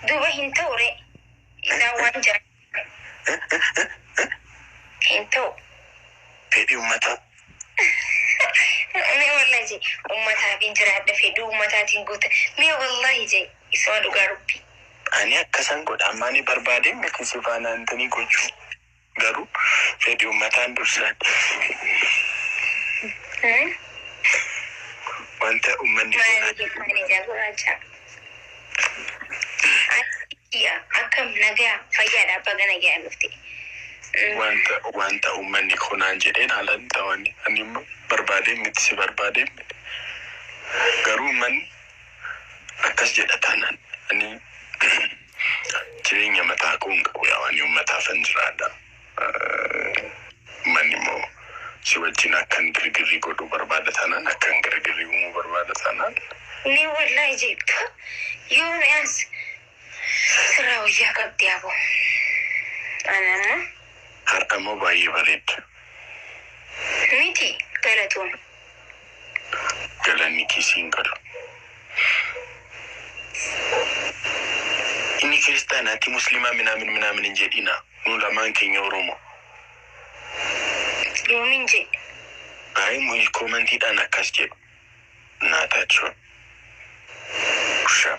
Duba hin ta'u ree. Isaan waan jiran hin ta'u. Fedhii ummataa. Mee wallahi jee ummataafiin jiraadha fedhii ummataatiin guuta. Mee wallahi jee isuma dhugaa rabbii. Ani akkasan godha ammaani barbaadeen miti sifaanaan tanii gochuu. Garuu fedhi ummataan dursa. Wanta ummanni goonaa jedhu. Akkam nagaya fayyaadha baga nagayaan dhufte. Wanta wanta ummanni koo naan jedheen haalan ta'an ani immoo barbaadeen miti si barbaadeen miti. Garuu ummanni akkas jedha taanaan ani Jireenya mataa koo hin qabu yaa waanii ummataafan jiraadha ummanni immoo si wajjin akkan girgirrii godhuu barbaada taanaan akkan girgirrii uumuu barbaada taanaan. Mee wollahi ijeebduu yoom as sirraa woyyaa qabdii aboo ani amma. Har'a immoo baay'ee bareedda. Miti galatoomi. galanni kee siin galu. Inni kiristaan ati muslimaa minaamin minaamin hin jedhina nu lamaan keenya oromo. Yoomin je'e. Ayi muyi komantiidhaan akkas jedhu naa taachoo. Ushaa.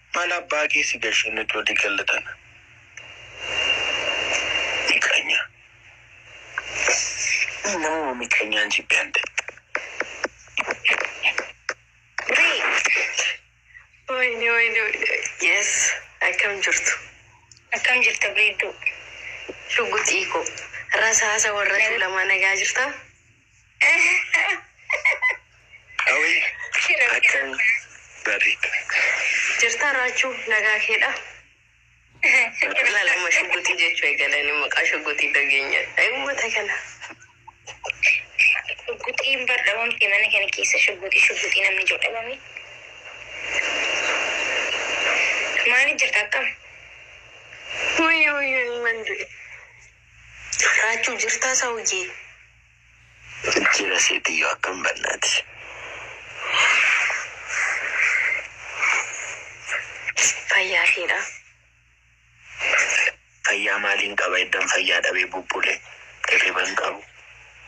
Mal abbaa kee si gashe nuti wali galla tana miqanya ani namuma miqanyan jibbe ante. Wayne wayne wayne yes akkam jirtu akkam jirta beedduu shugguxii koo rasaasa warra tuulamaa nagaa jirtaa Qawee akkam bareeda. Jirtaa raachuu nagaa keedha. Lala mashuguti jechu egalani maqaa shuguti dagenya. Ay ummata kana. Shugutiin bar dhabamti mana kana keessa shuguti shuguti namni jiru dhabame. Maali jirta akkam? Wayyo wayyo ilman du'e. Raachuu jirtaa sawuyyee. Jira seetiyyo akkam bannaati. Fayyaa keedha. Fayyaa maaliin qaba eddan fayyaa dhabee bubbule hirriba hin qabu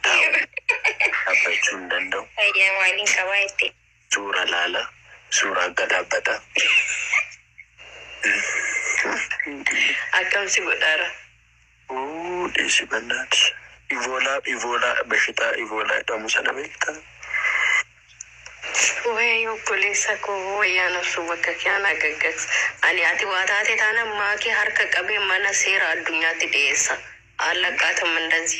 taa'u dhabbachuu hin danda'u. Fayyaa maaliin qabaa jettee. Suura laala suura akka dhaabbata. Akkam si godhaara. Wuu dhiisi bannaati. Ivoolaa ivoolaa bashitaa ivoolaa jedhamu sana beektaa? Wayii obboleessa koo wayyaa nabsuu bakka kee anaa gaggaks ani ati waa taate taana maakee harka qabee mana seera addunyaatti dhiyeessa aallaqaatam indazi.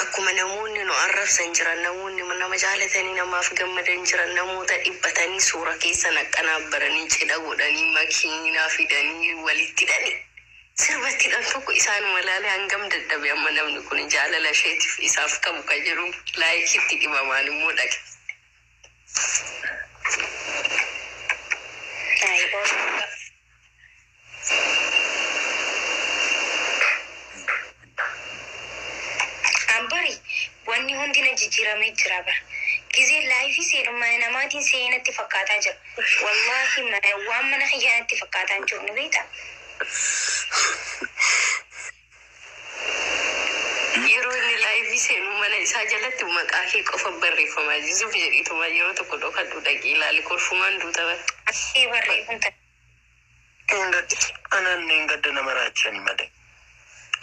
Akkuma namoonni nu arrabsan jiran, namoonni nama jaalatanii namaaf gammadan jiran, namoota dhiphatanii suuraa keessa naqqanaaf baranii cidha godhanii makiinaa fidanii walitti hidhanii sirba itti hidhan tokko isaanuma ilaalee hangam dadhabe amma namni kuni jaalala isheetiif isaaf qabu kan jedhu like itti dhibamaan immoo dhaqe. Like. An bari wanni hundi na jijjiiramee jira bar. Gizee laayifii seenu mana namaatiin seene natti fakkaataa jira. Wallaahi mana waan mana kiyyaa natti fakkaataa hin jiru ni beektaa. Yeroo inni live seenu mana isaa jalatti maqaa kee qofa barreeffama zuzuf jedhiituma yeroo tokko dhokadhu dhaqii ilaali kolfumaan duuta bar. Achii barree kun ta. Hin gaddi anaan hin gadda nama raachani malee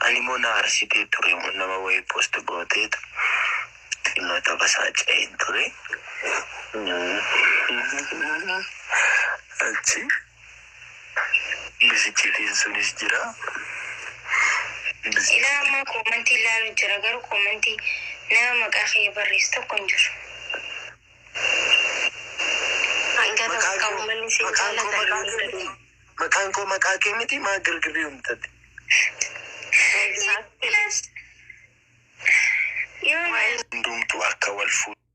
ani moo na arsitee ture moo nama wayii post gooteetu xinnoo tapha isaa ce'een ture achi Biskitiin sunis jira. Ilaa ammaa koomantii ilaalu jira garuu koomantii nama maqaa kiyya barreessu tokko hin jiru. Hanga tokko Maqaan qabu koo manni isin maqaan koo jaalatan maqaa kee miti. Maqaan koo maqaa kee miti maa girgirrii uumtate. Yes. Yoo Hundumtuu akka wal fuudhu.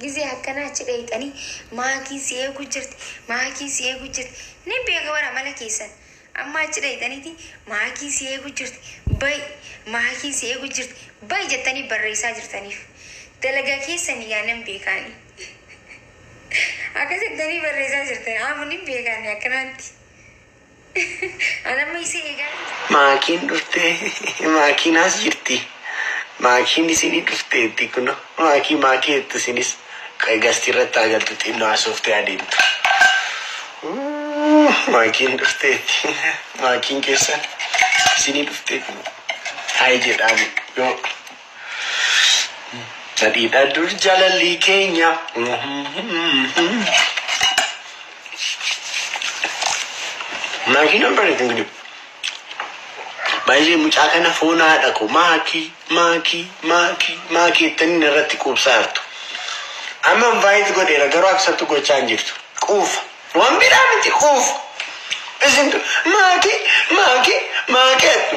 Gizee akkanaa achi dhayxanii maakiin si eegu jirti maakiin si eegu jirti nin beeka bara mala keessan amma achi dhayxaniiti maakiin si eegu jirti bay maakiin si eegu jirti bay jettanii barreessaa jirtaniif dalagaa keessan yaa nan beekaani akka jettanii barreessaa jirtan amma nin beekaani akkanaatti. Anamma isii eegaa jirti. Maakiin dhuftee maakiin as jirti. Maakiin isinii dhufteetti kuno maakii maakii jettu isinis qoy gasti irratti haa galtu xinnoo hasooftee haa deemtu. Uuu, Maakiin dhufteetti maakiin keessan isinii dhuftee kuno haay jedhaani yoo Nadhiidha dur jaalalli keenya. Maakii nan bareedu hin gidibu. Baay'ee mucaa kana foon haadha koo maakii maakii maakii maakii jettanii narratti quubsaa jirtu. Amma invite godheera garuu accept gochaa hin jirtu. Quufa. Waan biraa miti quufa. Isin maakii maakii maakii jettu.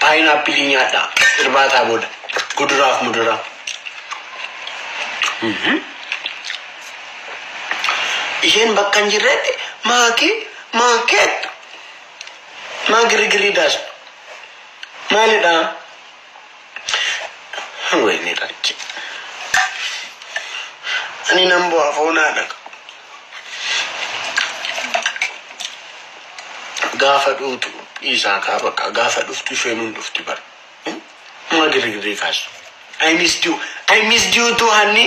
Paayinaappilii nyaadhaa irbaataa booda kuduraaf muduraa. Isheen bakka hin jirretti maakii maakeet maa girigirrii daasna maalidhaa? Wayne rakki. Ani nan bu'aa foonaa dhaqa. Gaafa dhuutu dhiisaa kaa bakka gaafa dhuftu isheen hin dhufti bara. Hmm? Maa girigirrii kaasu. I missed you. I missed you too hanni.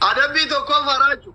Adabbii tokkoof haraaju.